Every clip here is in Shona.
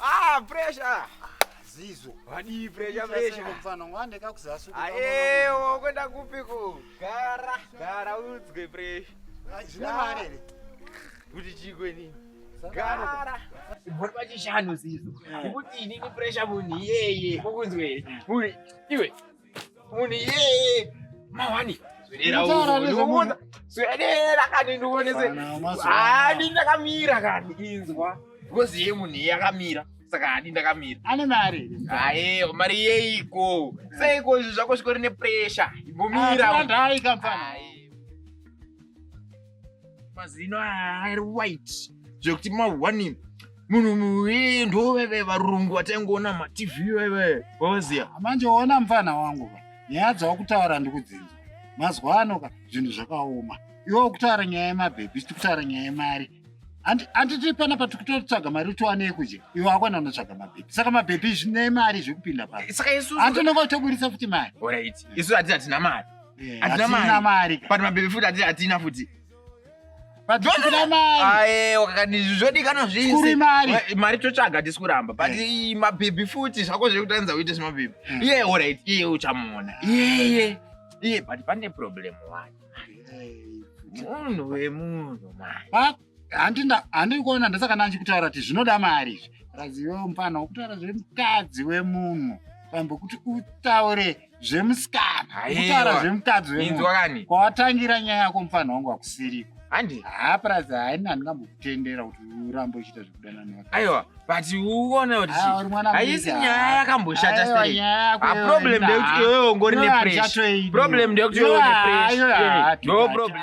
Ah, pressure. Zizo. Wadii pressure pressure. Mfana ngwande kakuzasu. Ayewo kwenda kupi ku? Gara, gara udzwe pressure. Zvine mari ere? Kuti chikwe nini? gara bhori pachishanu zizo kuti ini ni pressure munhu iyeye kukunzwei munhu iwe munhu iyeye mawani zvireraoona zvirera kani ndionese hadi ndakamira kani inzwa because ye munhu iye akamira saka hadi ndakamira ane mari aye mari yeiko seiko izvi zvako zvikori nepressure imbomira ndai kampani mazino ari white zvekuti mahwani munhu muye ndoveve varungu vataingoona matv veve wavaziya manje ona mfana wangu ka nyaya dzawakutaura ndikudzinza mazuva ano ka zvinhu zvakaoma iwe ukutaura nyaya yemabhebhi sitikutaura nyaya yemari handiti pana patikutotsvaga mari utiwane yekudya iwe akwana unotsvaga mabhebhi saka mabhebhi zvine mari zvekupinda paa saka isu antononga utoburitsa futi mari orit isu hati hatina mari Eh, Hatina mari. hatina mari ka. but mabebe futi hati- hatina futi But tisina mari ayewa kakandizvi zvodikanwa zvese Kuri mari. Ma- mari totsvaga tisi kuramba but ii, mabhebhi futi zvako zvekutandza uite zvemabhebhi Mm. iye orit iye uchamuona iyeye iye but pane problem one munhu wemunhu mani Ba- handina handiri kuona ndasaka nanchikutaura kuti zvinoda mari izvi razive mupana wokutaura zvemukadzi wemunhu pambo kuti utaure zvemusikana kutaura zvemukadzi wemunhu kwawatangira nyaya yako mupana wangu wakusiriko handi haa purazi haina handingambokutendera kuti urambe uchiita zvekudana ne aiwa but uone kuti haisi nyaya yakamboshata seaproblem ndeyekuti iwewe ungori nepressure problem ndeyekuti iwewe nepressure ndo problem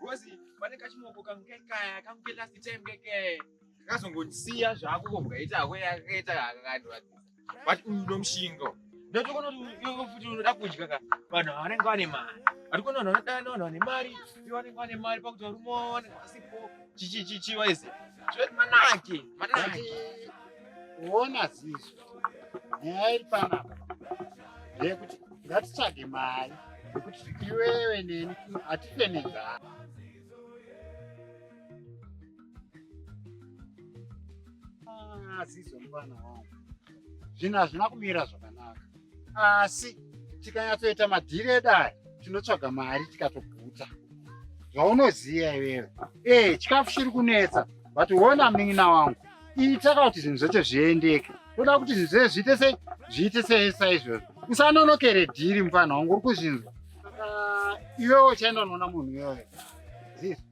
Gozi pane kachimoko kangu kekaya kangu ke last time kekaya kakazongondisiya zvako ko mukaita hako yakaita kakandivakisa but uyu nomushingo ndotokono futi unoda kudya ka vanhu vanenge vane mari atikona vanhu vanodana vanhu vane mari i vanenge vane mari pakuti varume vanenge vasipo chichichichi waise zvoti manake manake kuona ziso nyaya iri panapa ndeyekuti ngatitsvage mari yekuti iwewe neni hatife nenzara ah, ziso mfana wangu zvinhu hazvina kumira zvakanaka asi tikanyatsoita madhiri edu aya tinotsvaga mari tikatoguta zvaunoziva iwewe ee eh, chikafu chiri kunetsa but wona munin'ina wangu itaka kuti zvinhu zvacho zviendeke toda kuti zvinhu zvee zviite sei zviite sei saizvozvo usanonokere dhiri mufana wangu uri kuzvinzwa ah, iwewo uchaenda unoona munhu iyoyo zizvo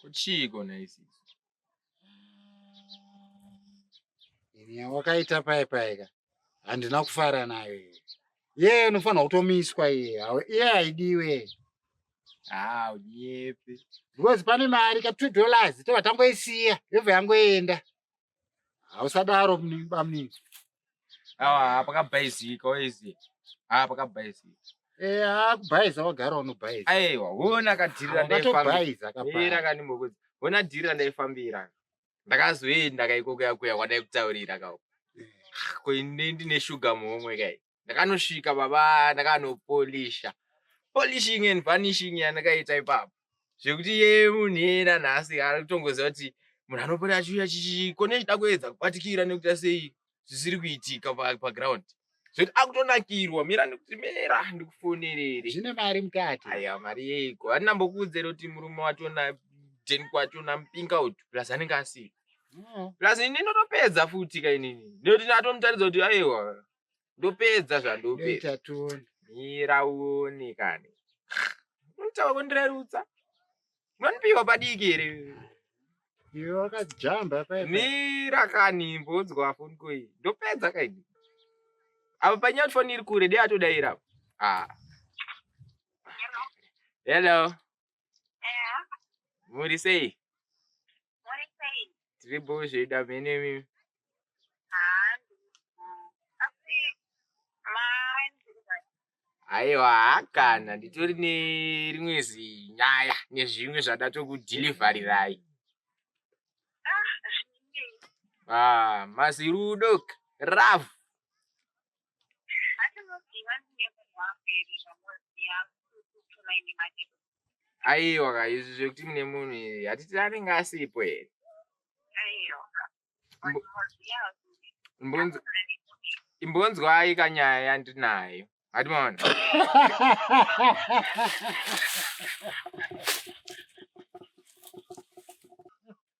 kuchiiko naisi inya wakaita paye payeka handina kufara nayo ye unofanira kutomiswa iye iye haidiwe haa uyepi because pane mari ka two dollars tobva tangoisiya yobva yangoenda hausadaro bamunini awa pakabhaizika waizi a pakabhaizika eh, akubhaiza wagara unobhaiza aiwa hona kadhirira ndaifambira kapera kanimbokuzi hona dhirira ndaifambira ndakazoenda kaikokuya kuya kwadaikutaurira kao eh. ko ndine shuga muhomwe kai ndakanosvika baba ndakanopolisha polishing and vanishing yandakaita ipapo zvekuti ye munhu yena nhasi ari kutongoziva kuti munhu anopota achiuya chichikone chida kuedza kubatikira nekuita sei zvisiri kuitika paground zvekuti akutonakirwa mira ndikuti mira ndikufonerere zvine mari mukati aya mari yeiko andina mbokuudzere kuti murume wacho na ten kwacho nampinga uti plus anenge asii mm. plus ini ndinotopedza futi kainini nekuti ndatomutaridza kuti aiwa ndopedza zvandopedza mira uone kani unotaura kundirerutsa unondipiwa padiki here iwe wakajamba mira kani mbonzwa foni koi ndopedza kaini apa panyati foni iri kure dei atodaira apo ah. hello muri sei tiri buzvi ida mhene mimi aiwa hakana nditori nerimwe zinyaya nezvimwe zvada tokudhilivharirai ah, ah mazirudo rav aiwa ka izvi zvekuti mune munhu iri hatiti anenge asipo here imbonzwai kanyaya yandinayo hati maona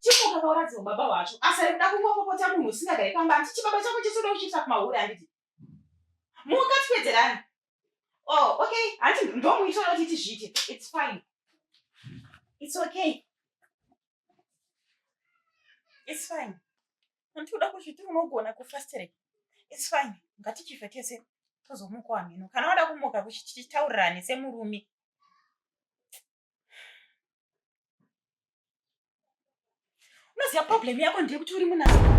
chimukakauradziwa baba wacho asi ari kuda kungopopota munhu usingagari pamba ati chibaba chako chesoda kuchiisa kumahure anditi mukatipedzerani o oh, okay hanti ndomuitira kuti tizviite its fine its okay its fine Hanti uda kuzviti unogona kufasterei? It's fine. Ngatichife tese tozomuka hameno. Kana wada kumuka kuchitaurirane semurume. Unoziva problem yako ndeyekuti uri munazikana.